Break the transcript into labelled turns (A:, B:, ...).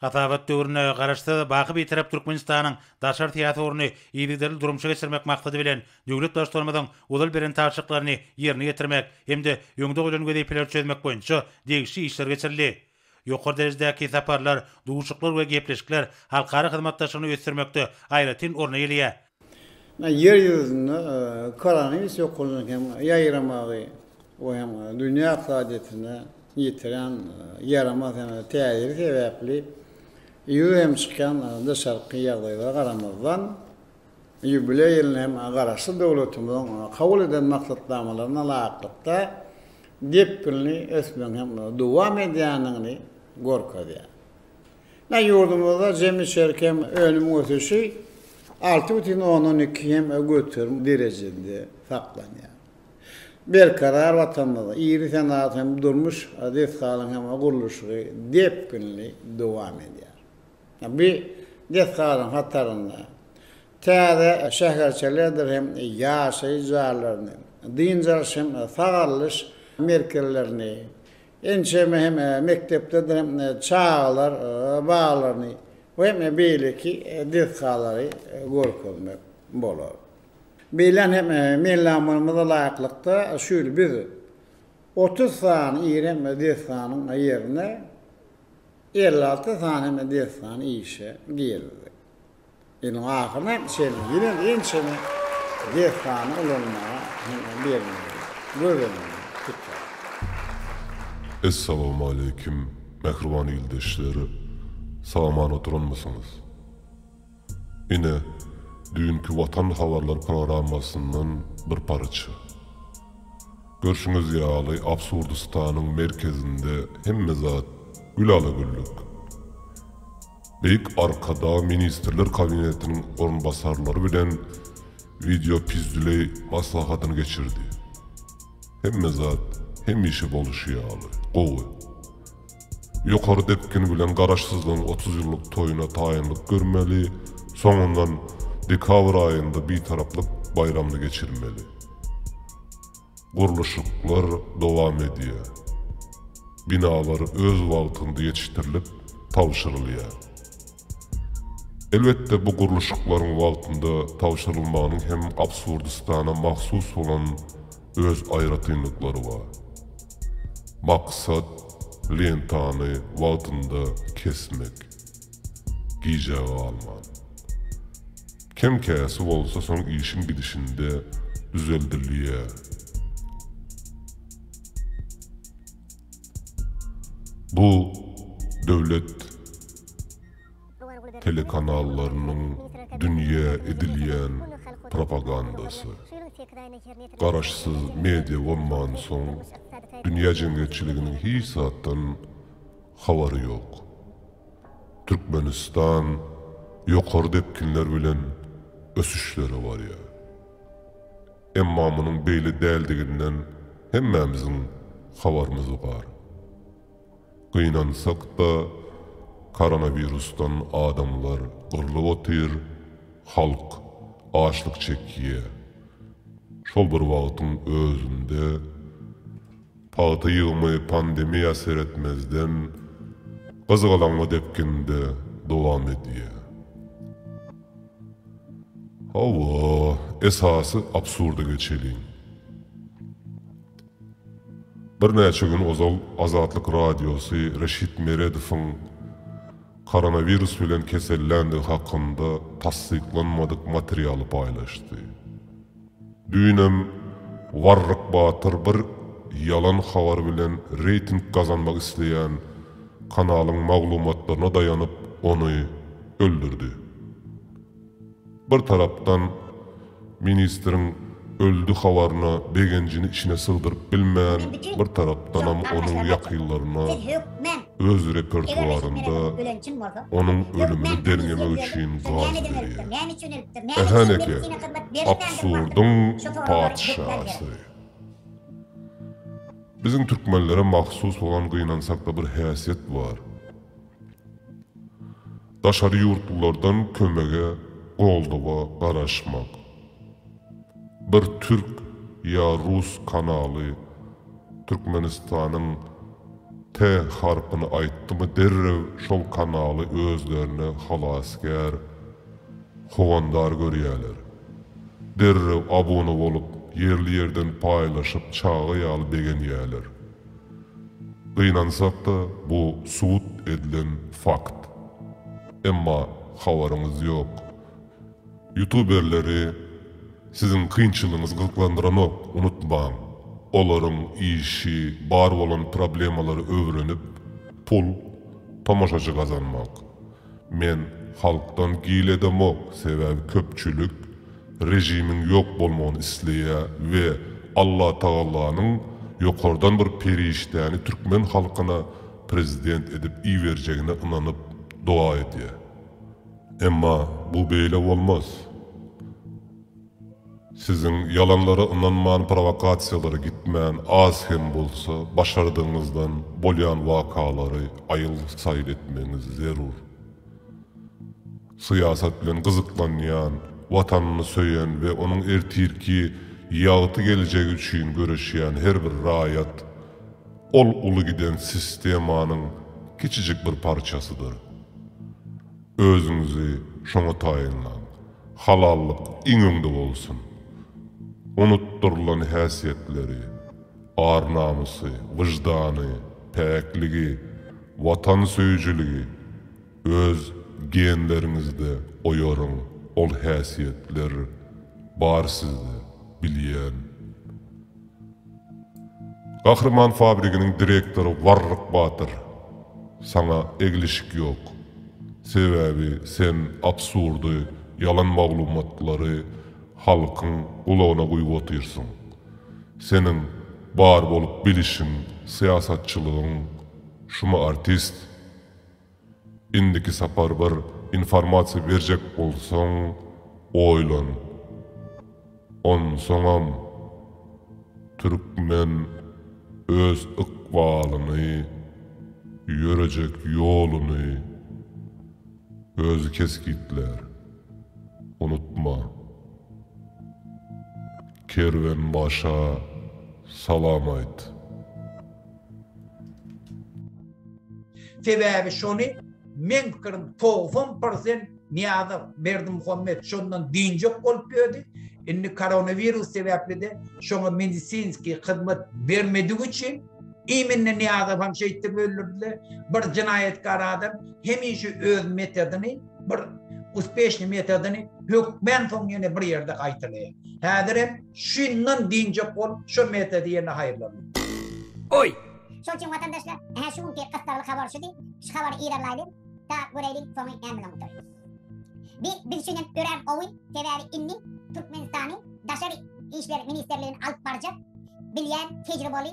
A: Hasabat döwründe Garaşsyz, baky Bitarap Türkmenistanyň daşary syýasy ugruny yzygiderli durmuşa geçirmek maksady bilen, döwlet Baştutanymyzyň ozal beren tabşyryklaryny ýerine ýetirmek hem-de öňde goýlan wezipeleri çözmek boýunça degişli işler geçirildi. Ýokary derejedäki saparlar, duşuklar we gepleşikler halkara hyzmatdaşlygyny ösdürmekde aýratyn orun eýeleýär. Ýer
B: ýüzünde koronawirus ýokumynyň hem ýaýramagy, bu hem dünýä ykdysadyýetine ýetiren ýaramaz hem täsiri sebäpli ýüze hem çykýan daşarky ýagdaýlara garamazdan, ýubileý ýylyna hem Garaşsyz döwletimiziň kabul eden maksatnamalaryna laýyklykda depginli ösmegiň hem dowam edýändigini görkezýär. Ine, ýurdumyzda jemi içerki hem önümiň ösüşi alty bütin ondan iki hem göterim derejesinde saklanýar. Berkarar Watanymyzda iri senagat hem durmuş desgalaryň hem gurluşygy depginli dowam edýär. Bu desgalaryň hatarynda täze şäherçelerdir hem ýaşaýyş jaýlaryny, dynç alyş hem sagalyş merkezlerini, Ençeme hem mekdeplerdir çagalar baglaryny we hem beýleki desgalary görkezmek bolar. Beýlän hem meýilnamalymyza laýyklykda şu ýyl biz otuz sany iri hem desganyň ýerine elli alty sany hem desgany işe girizdik. Iliň ahyryna hem çenli ýene-de ençeme desgany ulanmaga hem-ä berilmegi göz öňünde tutýar.
C: Essalamualeýkum mähriban ildeşler! Sag-aman oturanmysyňyz? Ine, düýnki Watan habarlary programmasyndan bir parça. Görşüňiz ýaly, Absurdystanyň merkezinde hemme zat gülala-güllük. Beýik Arkadag Ministrler Kabinetiniň orunbasarlary bilen wideopüzdüleý maslahatyny geçirdi. Hemme zat hemişe boluşy ýaly, gowy. Ýokary depgin bilen Garaşsyzlygyň otuz ýyllyk toýuna taýynlyk görmeli, soňundan dekabr aýynda Bitaraplyk baýramyny geçirmeli. Gurluşyklar dowam edýär. Binalar öz wagtynda ýetişdirilip tabşyrylýar. Elbetde bu gurluşyklaryň wagtynda tabşyrylmagynyň hem Absurdistana mahsus bolan öz aýratynlyklary bar. Maksat, lentany wagtynda kesmek. Gijä galman. Kem-käsi bolsa soň işiň gidişinde düzeldilýär. Bu döwlet telekanallarynyň dünýä edilýän propagandasy. Garaşsyz media bolmansoň, dünýä jemgyýetçiliginiň hiç zatdan habary ýok. Türkmenistan ýokary depginler bilen ösüşlere barýar. Emma munuň beýle däldiginden hemmämiziň habarymyz bar. Gynansak-da, koronawirusdan adamlar gyrlyp otyr, halk açlyk çekýär. Şol bir wagtyň özünde. Pagta ýygymy pandemiýa seretmezden gyzgalaňly depginde dowam edýär. Hawa, esasy absurda geçeliň. Birnäçe gün ozal Azatlyk Radiosy Reşit Meredowyň koronawirus bilen keselländigi hakynda tassyklanmadyk materialy paýlaşdy. Düýnem Warryk Batyr bir ýalan habar bilen reýting gazanmak isleýän kanalyň maglumatlaryna daýanyp ony öldürdi. Bir tarapdan ministriň öldi habaryna begenjini içine sygdyryp bilmän bir tarapdanam onuň ýakynlaryna. öz repertuarynda onuň ölümini derňemek üçin gaz berýär. Ähäneke, absurdyň patyşasy. Biziň türkmenlere mahsus bolan gynansakda bir häsiýet bar. Daşary ýurtlulardan kömege, goldawa garaşmak. Bir türk ýa rus kanaly Türkmenistanyň T harpyny aýtdymy derrew şol kanaly özlerine halasgär, howandar görýäler. Derrew abuna bolup ýerli ýerden paýlaşyp çaga ýaly begenýäler. Gynansak-da bu subut edilen fakt. Emma habaryňyz ýok. Ýutuberleri siziň kynçylygyňyz gyzyklandyranok, unutmaň. Olaryň işi bar bolan problemalary öwrenip pul, tomaşaçy gazanmak. Men halkdan gil edemok sebäbi köpçülik rejimiň ýok bolmagyny isleýä we Allatagallanyň ýokardan bir perişdäni türkmen halkyna prezident edip iberjegine ynanyp doga edýä. Emma bu beýle bolmaz. Siziň ýalanlara ynanman prowokasiýalara gitmän az hem bolsa başardygyňyzdan bolýan wakalary aýyl saýyl etmegiňiz zerur. Syýasat bilen gyzyklanýan, watanyny söýen we onuň ertirki ýagty geljegi üçin göreşýän her bir raýat ol uly giden sistemanyň kiçijik bir parçasydyr. Özüňizi şoňa taýynlaň. Halallyk iň öňde bolsun. Unutdyrylan häsiýetleri, ar-namysy, wyždany, päkligi, watansöýüjiligi öz genleriňizde oýaryň, ol häsiýetler bar sizde, bilýän. Gahryman fabriginiň direktory Warryk batyr, saňa eglişik ýok. Sebäbi sen absurdy, ýalan maglumatlary halkyň gulagyna guýup otyrsyň. Seniň bar bolup bilişiň, syýasatçylygyň şumy artist? Indiki sapar bir informasiýa berjek bolsaň oýlan. Onsoňam türkmen öz ykbalyny, ýörejek ýoluny özi kesgitlär. Unutma. Kerwenbaşa salam aýt.
D: Sebäbi şony meň pikirim togsan prosent Niýazow Berdimuhamet şondan dynjak bolup ýördi, indi koronawirus sebäplide şoňa medisinskiý hyzmat bermedigi üçin immine Niýazowam şeýtdip öldürdiler, bir jenaýatkar adam hemişe öz metodyny bir uspeşnyý metodyny hökmän soň ýene bir ýerde gaýtalaýar. Häzirem Şundan dynjak bol, şo meta diýene haýyrlanma. Oý! Şol üçin
E: watandaşlar, ä şu günki gyssagly habar şudy, şu habary yzarlaýlyň, da göräýliň soňy näme bilen gutaryp. Bi biz üçinem örän gowy, sebäbi indi Türkmenistany daşary işler ministrligini alyp barjak bilýän tejriboly